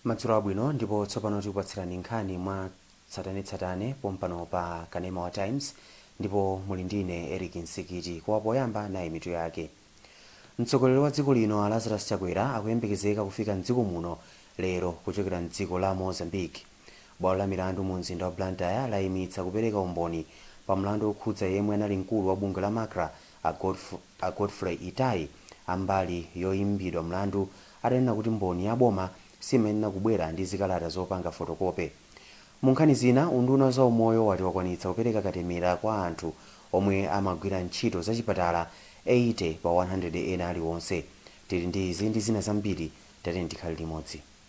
madzulo abwino ndipo tsopano tikupatsirani nkhani mwa tsatanetsatane pompano pa kanema wa times ndipo muli ndine eric nsikiti koma poyamba nayi mitu yake mtsogoleri wa dziko lino a lazarus chakwera akuyembekezeka kufika mdziko muno lero kuchokera mdziko la mozambique bwalo la milandu mu mzinda wa blantyre layimitsa kupereka umboni pa mlandu wokhudza yemwe anali mkulu wa bungwe la macra A Godfrey Itaye, a mbali yoimbidwa mlandu, atanena kuti mboni ya boma simayenera kubwera ndi zikalata zopanga fotokope. Mu nkhani zina, unduna wa zaumoyo wati wakwanitsa kupereka katemera kwa anthu omwe amagwira ntchito zachipatala 80 pa 100 ena aliwonse. Tili ndi izi ndi zina zambiri, tatiyeni tikhale limodzi.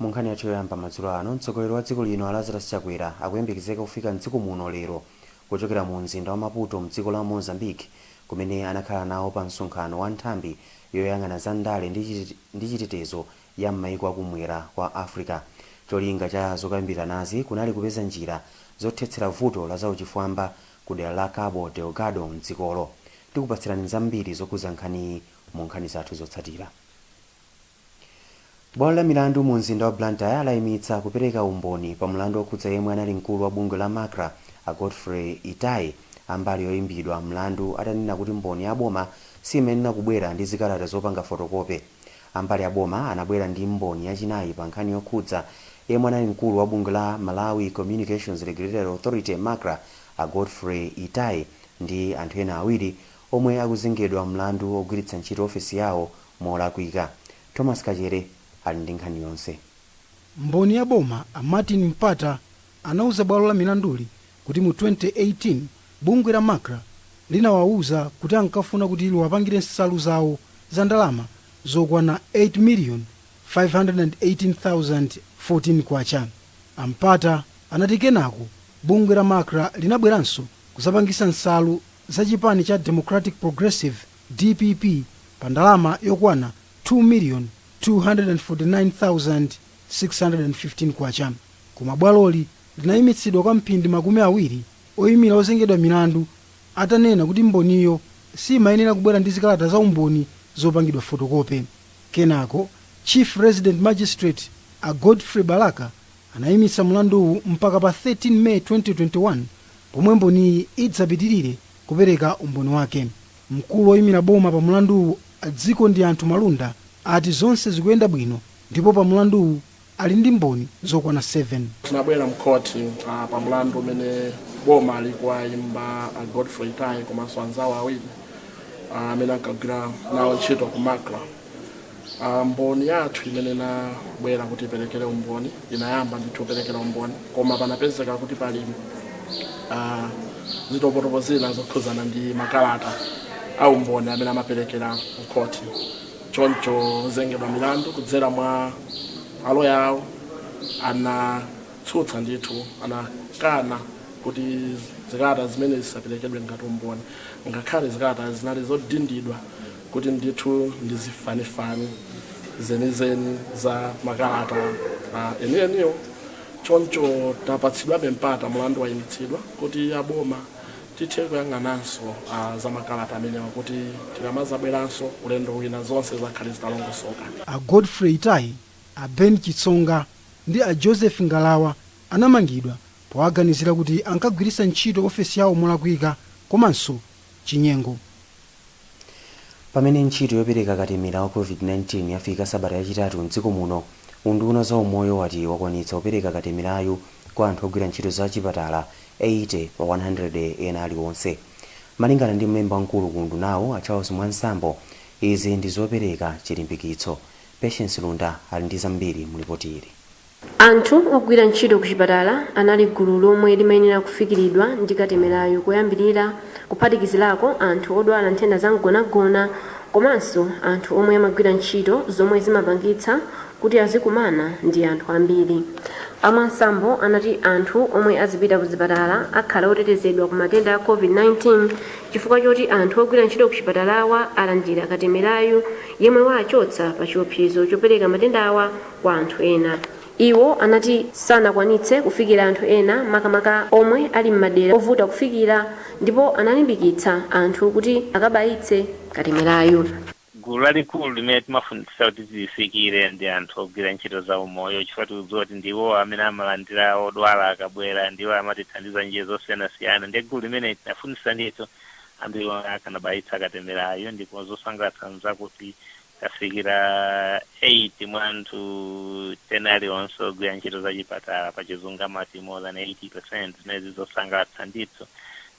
Mu nkhani yathu yoyamba madzulo ano, mtsogoleri wa dziko lino a Lazarus Chakwera akuyembekezeka kufika m'dziko muno lero kuchokera mu mzinda wa Maputo mdziko la Mozambique kumene anakhala nawo pa msonkhano wa nthambi yoyang'ana za ndale ndi chitetezo ya m'maiko a ku mwera kwa Africa. Cholinga cha zokambiranazi kunali kupeza njira zothetsera vuto la za uchifwamba ku dera la Cabo Delgado mdzikolo. Tikupatsirani zambiri zokhudza nkhaniyi mu nkhani zathu zotsatira. Bwalo la milandu mu mzinda wa Blantyre layimitsa kupereka umboni pa mlandu okhudza yemwe anali mkulu wa bungwe la Macra a Godfrey Itaye a mbali yoyimbidwa mlandu atanena kuti mboni ya boma siyimayenera kubwera ndi zikalata zopanga fotokope. Ambali ya boma anabwera ndi mboni yachinayi pa nkhani yokhudza yemwe anali mkulu wa bungwe la Malawi Communications Regulatory Authority, Macra, a Godfrey Itaye ndi anthu ena awiri omwe akuzengedwa mlandu ogwiritsa ntchito ofesi yawo molakwika. Thomas Kachere ali ndi nkhani yonse. Mboni ya boma a Martin Mpata anauza bwalo la milanduli kuti mu 2018 bungwe la Macra linawauza kuti ankafuna kuti liwapangire nsalu zawo za ndalama zokwana K8,518,014. A Mpata anati kenako bungwe la Macra linabweranso kuzapangisa nsalu za chipani cha Democratic Progressive, Dpp pa ndalama yokwana K2,249,615 koma bwaloli linayimitsidwa kwa mphindi makumi awiri oyimira ozengedwa milandu atanena kuti mboniyo simayenera kubwera ndi zikalata za umboni zopangidwa fotokope. Kenako Chief Resident Magistrate a Godfrey Balaka anayimitsa mlanduwu mpaka pa 13 May 2021 pomwe mboniyi idzapitirire kupereka umboni wake. Mkulu oyimira boma pa mulanduwu a Dzikondianthu Malunda ati zonse zikuyenda bwino ndipo pa mulanduwu ali ndi mboni zokwana 7. Tinabwera mkhoti pa mulandu umene boma likuwaimba a Godfrey Itaye komanso anzawo awiri amene ankagwira nawo ntchito ku Macra. Ah, mboni yathu imene inabwera kuti iperekere umboni inayamba ndithu kuperekera umboni koma panapezeka kuti pali ah, zitopotopo zina zokhudzana ndi makalata a umboni amene amaperekera mkhoti choncho ozengedwa milandu kudzera mwa aloya awo anatsutsa ndithu anakana kuti zikalata zimene zisaperekedwe ngati umboni ngakhale zikalata zinali zodindidwa kuti ndithu ndi zifanifani zenizeni za makalata enieniwo choncho tapatsidwabe mpata mulandu wayimitsidwa kuti aboma tithe kuyang'ananso ah, za makalata amenewa kuti tikamazabweranso ulendo wina zonse zizakhale zitalongosoka a Godfrey Itaye, a Ben Chitsonga ndi a Joseph Ngalawa anamangidwa powaganizira kuti ankagwiritsa ntchito ofesi yawo molakwika komanso chinyengo. Pamene ntchito yopereka katemera wa Covid-19 yafika sabata yachitatu m'dziko muno, unduna wa zaumoyo wati wakwanitsa kupereka katemerayu kwa anthu ogwira ntchito za chipatala 80 pa 100 ena aliwonse. Malingana ndi mlembi wamkulu ku undunawu, a Charles Mwansambo, izi ndi zopereka chilimbikitso. Patience Lunda ali ndi zambiri mu lipoti ili. Anthu ogwira ntchito kuchipatala anali gulu lomwe limayenera kufikiridwa ndi katemerayu koyambirira, kuphatikizirako anthu odwala nthenda za mgonagona komanso anthu omwe amagwira ntchito zomwe zimapangitsa kuti azikumana ndi anthu ambiri. A Mwansambo anati anthu omwe azipita ku zipatala akhala otetezedwa ku matenda a Covid-19 chifukwa choti anthu ogwira ntchito kuchipatalawa alandira katemerayu yemwe waachotsa pa chiopsezo chopereka matendawa kwa anthu ena. Iwo anati sanakwanitse kufikira anthu ena makamaka omwe ali m'madera ovuta kufikira ndipo analimbikitsa anthu kuti akabayitse katemerayu. Gulu lalikulu limene timafunitsitsa kuti tilifikire ndi anthu ogwira ntchito za umoyo chifukwa tikudziwa kuti ndiwo amene amalandira odwala akabwera, ndiwo amatithandiza m'njira zosiyanasiyana ndiye gulu limeneli tinafunitsitsa ndithu ambiri akanabayitsa katemerayu ndipo zosangalatsa n'zakuti tafikira 8 mwa anthu 10 alionse ogwira ntchito za chipatala pa chizungu amati more than 80 zimenezi zosangalatsa ndithu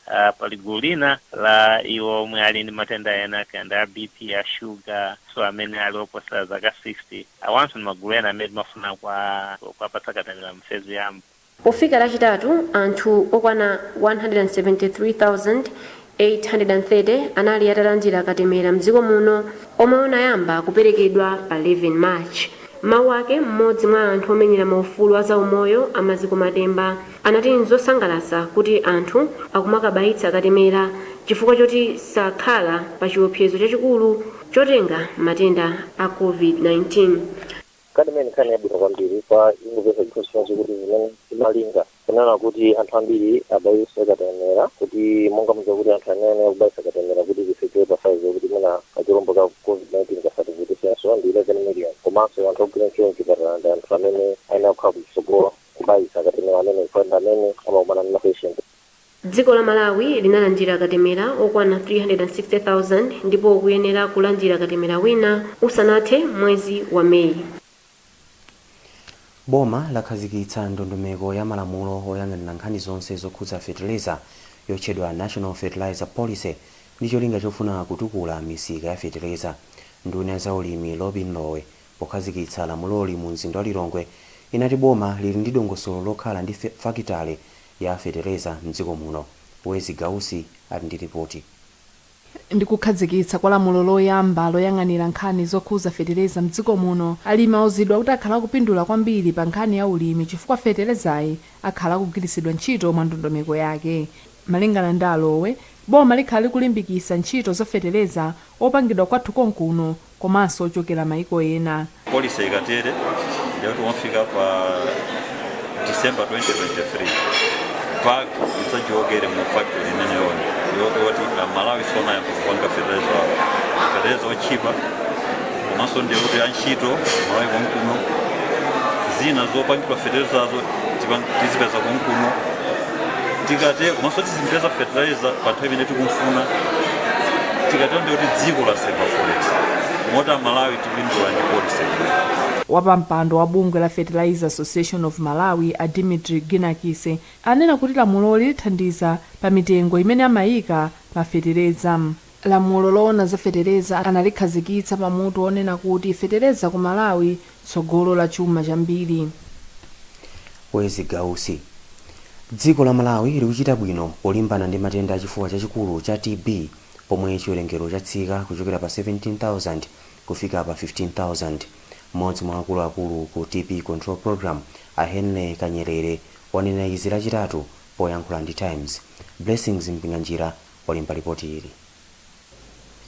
uh, pali gulu lina la iwo omwe ali ndi matenda ena kaya a bp a shuga so amene ali oposa zaka 60 awanso ndi magulu ena amene timafuna kuwapatsa katemera mfezi yoyamba Pofika Lachitatu, anthu okwana 173,830 anali atalandira katemera m'dziko muno omwe unayamba kuperekedwa pa 11 March. M'mawu ake, m'modzi mwa anthu omenyera maufulu a zaumoyo a Maziko Matemba anati n'zosangalatsa kuti anthu akumakabayitsa katemera chifukwa choti sakhala pachiopsezo chachikulu chotenga matenda a Covid-19. kani mene nkhani yabwino kwambiri kwa ingopeza chifukwa chinacho kuti zimene timalinga kunena kuti anthu ambiri abayise katemera kuti monga muja kuti anthu amene akubayisa katemera kuti zifike pa size yokuti mwina kachilombo ka covid-19 kasatikutesenso ndi 11 million komanso anthu ogwira ntchito mchipatala ndi anthu amene ayenera kukhala kutsogolo kubayisa katemera amene ndi amene amakumana ndi mapatient Dziko la Malawi linalandira katemera okwana 360,000 ndipo likuyenera kulandira katemera wina usanathe mwezi wa May. Boma lakhazikitsa ndondomeko ya malamulo oyang'anira nkhani zonse zokhudza fetereza yotchedwa National Fertilizer Policy ndi cholinga chofuna kutukula misika ya fetereza. Nduna ya zaulimi Lobin Lowe pokhazikitsa lamuloli mu mzinda wa Lilongwe inati boma lili ndi dongosolo lokhala ndi fakitale ya fetereza m'dziko muno, Wezi Gausi ali ndi lipoti. Ndi kukhazikitsa kwa lamulo loyamba loyang'anira nkhani zokhuza fetereza m'dziko muno, alimi auzidwa kuti akhala akupindula kwambiri pa nkhani ya ulimi chifukwa feterezayi akhala akugwiritsidwa ntchito mwa ndondomeko yake. Malingana ndi a Lowe, boma likhala likulimbikisa ntchito za fetereza wopangidwa kwathu konkuno, komanso ochokera maiko ena. Policy ikatere ndiye kuti pomafika pa December 2023 bag idzachokere mu factory imeneyoyo yokuti amalawi sonayamba kupanga fertilizer wawo fertilizer otchipa komanso ndiye kuti antchito malawi konkuno zina zopangira fertilizazo tipa- tizipeza konkuno tikate komanso tizipeza fertilizer pa nthawi imene tikumfuna tikatero ndiye kuti dziko laseva forex moti amalawi tipindula ndi policy Wapampando wa bungwe la Fertilizer Association of Malawi a Dimitri Ginakise anena kuti lamuloli lithandiza pa mitengo imene amaika pa fetereza. Lamulo loona za fetereza analikhazikitsa pa mutu wonena kuti Fetereza ku Malawi, Tsogolo la Chuma Chambiri. Wezi Gausi Dziko la Malawi likuchita bwino polimbana ndi matenda a chifuwa chachikulu cha TB pomwe chiwerengero chatsika kuchokera pa 17,000 kufika pa 15,000. M'modzi mwa akulu akulu ku TB Control Programme a Henry Kanyerere wanena izi lachitatu poyankhula ndi Times. Blessings Mpinganjira walemba lipoti ili.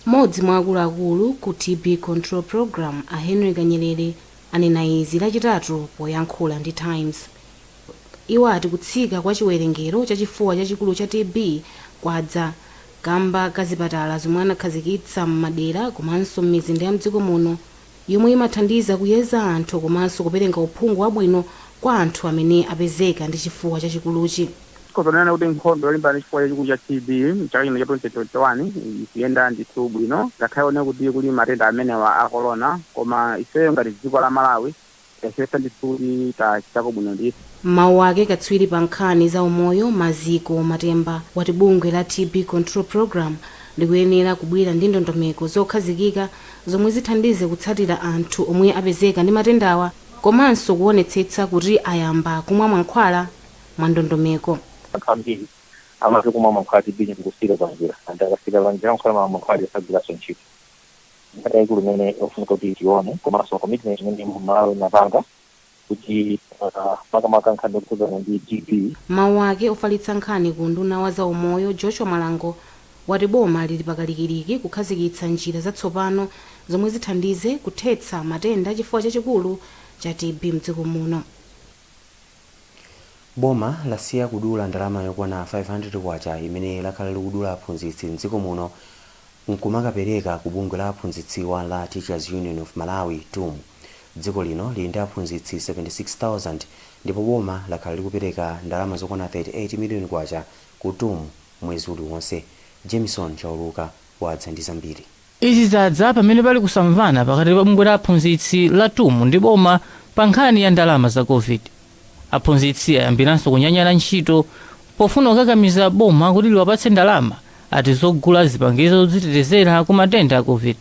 Mmodzi mwa akuluakulu ku TB Control Program a Henry Kanyerere anena izi lachitatu poyankhula ndi Times. Iwo ati kutsika kwa chiwerengero cha chifuwa chachikulu cha TB kwadza kamba ka zipatala zomwe anakhazikitsa m'madera komanso m'mizinda ya mdziko muno yomwe imathandiza kuyeza anthu komanso kupereka uphungu wabwino kwa anthu amene apezeka ndi chifuwa chachikuluchi. Tikhoza kunena kuti nkhondo yolimbana ndi chifuwa chachikulu cha TB m'chaka chino cha 2021 ikuyenda ndithu bwino ngakhale kunena kuti kuli matenda amenewa a Corona koma ifeyo ngati dziko la Malawi, tayesetsa ndithu, tachitako bwino ndithu. M'mawu ake katswiri pa nkhani za umoyo Maziko Matemba wati bungwe la TB Control Programme likuyenera kubwera ndi ndondomeko zokhazikika zomwe zithandize kutsatira anthu omwe apezeka ndi matendawa komanso kuwonetsetsa kuti ayamba kumwa mankhwala mwa ndondomeko. Anthu ambiri amatha kumwa mankhwala a TB ndikusiira panjira and akasiira panjira mankhwala aja sagwiranso ntchito. nkhani yaikulu imene ikufunika kuti tione komanso commitment imene malawi inapanga kuti ah, makamaka nkhani yokhudzana ndi TB M'mawu ake, ofalitsa nkhani ku unduna wa za umoyo, Joshua Malango, wati boma lili pakalikiliki kukhazikitsa njira zatsopano zomwe zithandize kuthetsa matenda a chifuwa chachikulu cha TB mdziko muno. Boma lasiya kudula ndalama yokwana K500 imene lakhala likudula aphunzitsi m'dziko muno n'kumakapereka ku bungwe la aphunzitsiwa la Teachers Union of Malawi, tum. Dziko lino lili ndi aphunzitsi 76,000 ndipo boma lakhala likupereka ndalama zokwana K38 miliyoni ku tum mwezi uliwonse. Jamison Chauluka. wadza ndi zambiri. Izi zadza pamene pali kusamvana pakati pa bungwe la aphunzitsi la tum ndi boma pa nkhani ya ndalama za Covid. Aphunzitsi ayambiranso kunyanyala ntchito pofuna kukakamiza boma kuti liwapatse ndalama ati zogula zipangizo zodzitetezera ku matenda a Covid.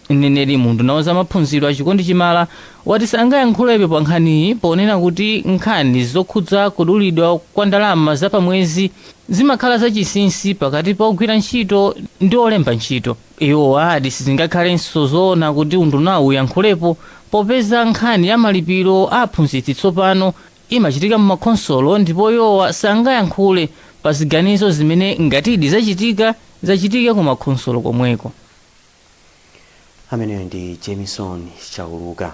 Mneneri mu unduna wa za maphunziro a Chikondi Chimala wati sangayankhulepo pa nkhaniyi ponena kuti nkhani zokhudza kudulidwa kwa ndalama za pa mwezi, Zimakhala zachinsinsi pakati pa ogwira ntchito ndi olemba ntchito. Iwo ati sizingakhalenso zoona kuti undunawu uyankhulepo popeza nkhani ya malipiro a aphunzitsi tsopano imachitika m'makhonsolo ndipo iwowa sangayankhule pa ziganizo zimene ngatidi zachitika, zachitike kumakhonsolo komweko. Ameneyo ndi Jamison Chauluka.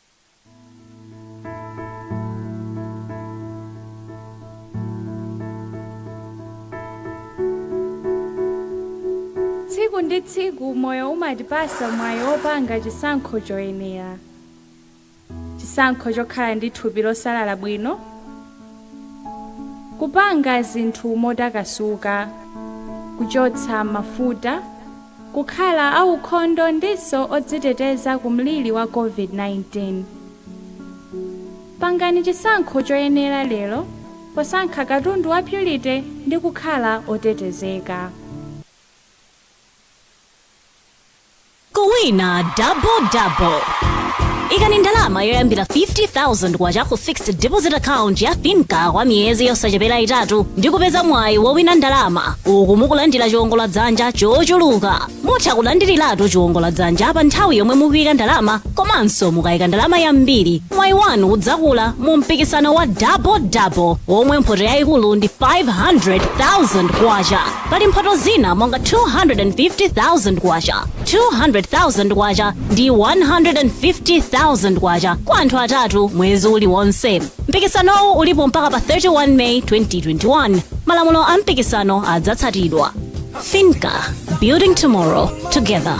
tsiku ndi tsiku moyo umatipasa mwayi wopanga chisankho choyenera chisankho chokhala ndi thupi losalala bwino kupanga zinthu motakasuka kuchotsa mafuta kukhala aukhondo ndinso odziteteza ku mliri wa COVID-19. Pangani chisankho choyenera lero posankha katundu wa Purity ndi kukhala otetezeka. Kuwina double double. ikani ndalama yoyambira 50000 kwacha ku fixed deposit account ya finca kwa miyezi yosachepera itatu ndi kupeza mwayi wowina ndalama uku mukulandira chiwongola dzanja chochuluka mutha kulandiriratu chiwongola dzanja pa nthawi yomwe mukuyika ndalama komanso mukayika ndalama yambiri mwayi wanu udzakula mu mpikisano wa double double womwe mphoto yayikulu ndi 500000 kwacha pali mphoto zina monga 250000 kwacha 200000 kwacha ndi 150,000 kwacha kwa anthu atatu mwezi uliwonse mpikisanowu ulipo mpaka pa 31 may 2021 malamulo a mpikisano adzatsatidwa finca building tomorrow together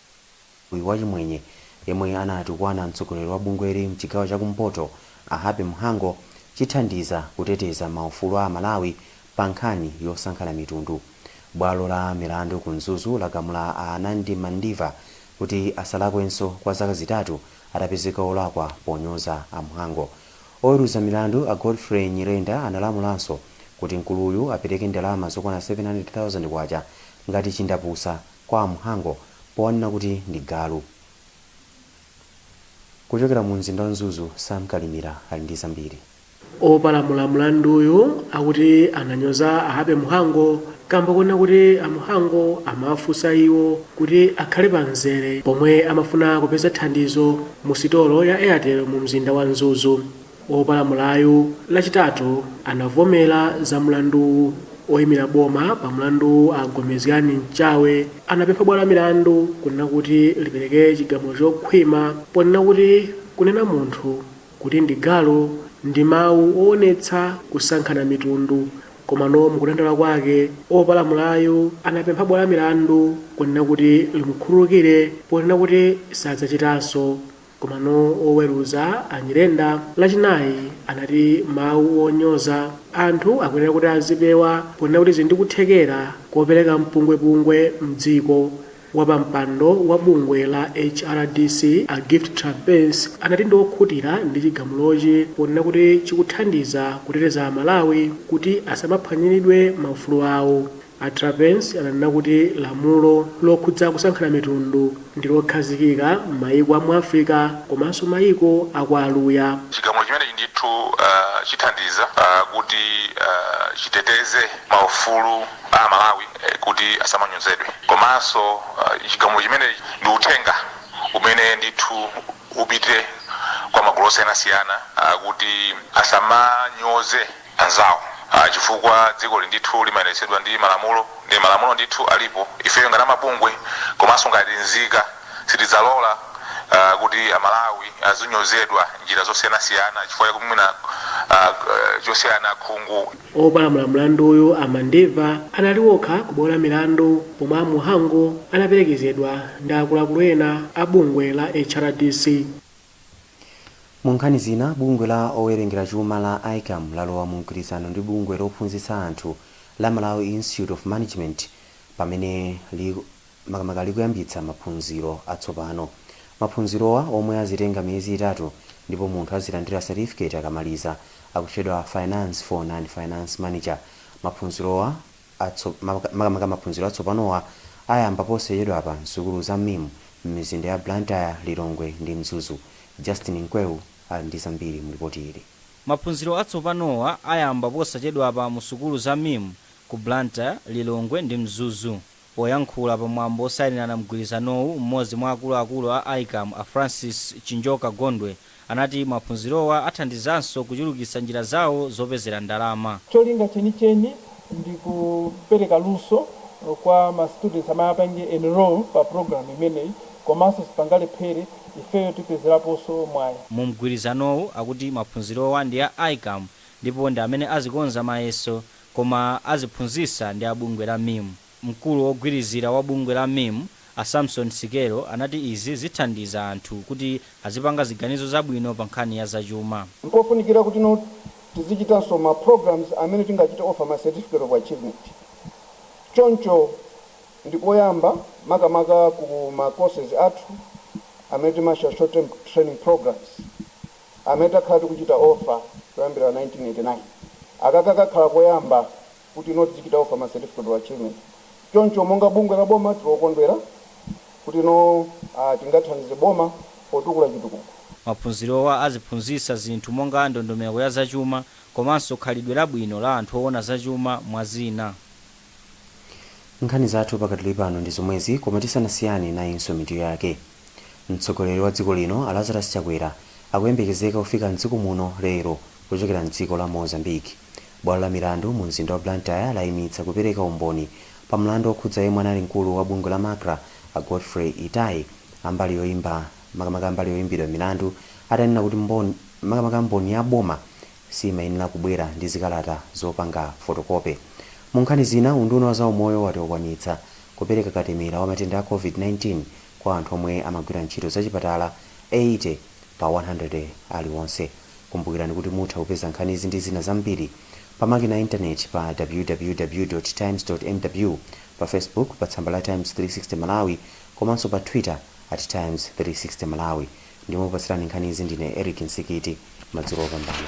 Mkuluyu wa chimwenye yemwe anatukwana mtsogoleri wa bungweli mchigawo cha kumpoto a Happy Mhango chithandiza kuteteza ma ufulu a amalawi pa nkhani yosankhana mitundu. Bwalo la milandu ku Mzuzu lagamula a Anandi Mandiva kuti asalakwenso kwa zaka zitatu atapezeka olakwa ponyoza a Mhango. Oweruza milandu a Godfrey Nyirenda analamulanso kuti mkuluyu apereke ndalama zokwana K700,000 ngati chindapusa. kwa a Mhango powanena kuti ndi galu. Kuchokera mu mzinda wa Mzuzu, Sam Kalimira ali ndi zambiri. Opalamula mlanduyu akuti ananyoza a Happy Mhango kamba konena kuti a Mhango amawafunsa iwo kuti akhale pa mzere pomwe amafuna kupeza thandizo mu sitolo ya Airtel mu mzinda wa Mzuzu. Wopalamulayu Lachitatu anavomera za mlanduwu. Oimira boma pa mlandu a Gomezgani Mchawe anapempha bwalo la milandu kunena kuti lipereke chigamulo chokhwima ponena kuti kunena munthu kuti ndi galu ndi mawu owonetsa kusankhana mitundu komano mukudandaula kwake opalamulayu anapempha bwalo la milandu kunena kuti limukhululukire ponena kuti sadzachitanso Komano woweruza a Nyirenda Lachinayi anati mawu onyoza anthu akuyenera kuti azipewa ponena kuti zi ndi kuthekera kopereka mpungwepungwe m'dziko. Wapampando wa bungwe la HRDC a Gift Trapence anati ndi okhutira ndi chigamulochi ponena kuti chikuthandiza kuteteza Amalawi kuti asamaphwanyiridwe maufulu awo. A Trapence ananena kuti lamulo lokhudza kusankhana mitundu ndi lokhazikika m'mayiko a mu Africa komanso mayiko a kwa Aluya. Chigamulo chimenechi ndithu chithandiza kuti chiteteze maufulu a Amalawi kuti asamanyozedwe komanso chigamulo chimenechi ndi uthenga umene ndithu upite kwa magulu osiyanasiyana kuti asamanyoze. anzawo. Chifukwa dzikoli ndithu limayendetsedwa ndi malamulo, nde malamulo ndithu alipo. Ifeyo ngati amabungwe komanso ngati nzika sitidzalola kuti Amalawi azinyozedwa m'njira zosiyanasiyana chifukwa chakuti mwina chosiyana khungu. Opalamula mlanduyu, a Mandeva, anali okha ku bwalo la milandu pomwe a Muhango anaperekezedwa ndi akuluakulu ena a bungwe la HRDC. Mu nkhani zina, bungwe la owerengera chuma la ICAM lalowa mu mgwirizano ndi bungwe lophunzitsa anthu la Malawi Institute of Management pamene makamaka likuyambitsa maphunziro atsopano. Maphunzirowa omwe azitenga miyezi itatu ndipo munthu azilandira certificate akamaliza, akutchedwa Finance for Non-Finance Manager. Maphunzirowa. atso maka makamaka maphunziro atsopanowa ayamba posachedwapa m'sukulu za MIM m'mizinda ya Blantyre, Lilongwe ndi Mzuzu. Justin Mkweu ali ndi zambiri mu lipoti ili. Maphunziro atsopanowa ayamba posachedwapa mu sukulu za MIM ku Blantyre, Lilongwe ndi Mzuzu. Poyankhula pa mwambo wosayinirana mgwirizanowu, m'modzi mwa akuluakulu a ICAM a Francis Chinjoka Gondwe anati maphunzirowa athandizanso kuchulukitsa njira zawo zopezera ndalama. Cholinga chenicheni ndi kupereka luso kwa ma students amene apange enroll pa program imeneyi komanso sipangalephere ifeyo tipezeraponso mwayi. Mu mgwirizanowu akuti maphunzirowa ndi a ICAM ndipo ndi amene azikonza mayeso koma aziphunzitsa ndi a bungwe la MIM. Mkulu wogwirizira wa bungwe la MIM, a Samson Sikelo, anati izi zithandiza anthu kuti azipanga ziganizo zabwino pa nkhani ya zachuma. Mpofunikira kutino tizichitanso ma programs amene tingachite offer ma Certificate of Achievement. Choncho ndi koyamba makamaka ku ma courses athu amene timatcha Short Term Training Programs amene takhala tikuchita offer kuyambira 1989. Akaka kakhala koyamba kuti tizichita offer ma certificate of achievement choncho monga bungwe la boma tili okondwera kuti tingathandize boma potukula chitukuko. Maphunzirowa aziphunzitsa zinthu monga ndondomeko ya zachuma komanso khalidwe labwino la anthu owona zachuma mwa zina. Nkhani zathu pakadali pano ndi zomwezi koma tisanasiyane nayinso mitu yake. Mtsogoleri wa dziko lino a Lazarus Chakwera akuyembekezeka kufika m'dziko muno lero kuchokera m'dziko la Mozambique. Bwalo la milandu mu mzinda wa Blantyre layimitsa kupereka umboni pa mlandu okhudza yemwe anali mkulu wa bungwe la Macra a Godfrey Itaye a mbali yoimba makamaka mbali yoimbidwa milandu atanena kuti mbon makamaka mboni ya boma siyimayenera kubwera ndi zikalata zopanga fotokope. Mu nkhani zina, unduna wa zaumoyo wati wakwanitsa kupereka katemera wa matenda a Covid-19 kwa anthu omwe amagwira ntchito za chipatala 80 pa 100 aliwonse. Kumbukirani kuti mutha kupeza nkhanizi ndi zina zambiri pa makina a intaneti pa www. Times. mw, pa Facebook pa tsamba la Times 360 Malawi komanso pa Twitter at Times 360 Malawi. Ndimakupatsirani nkhanizi ndine Eric Msikiti. Madzulo opambana.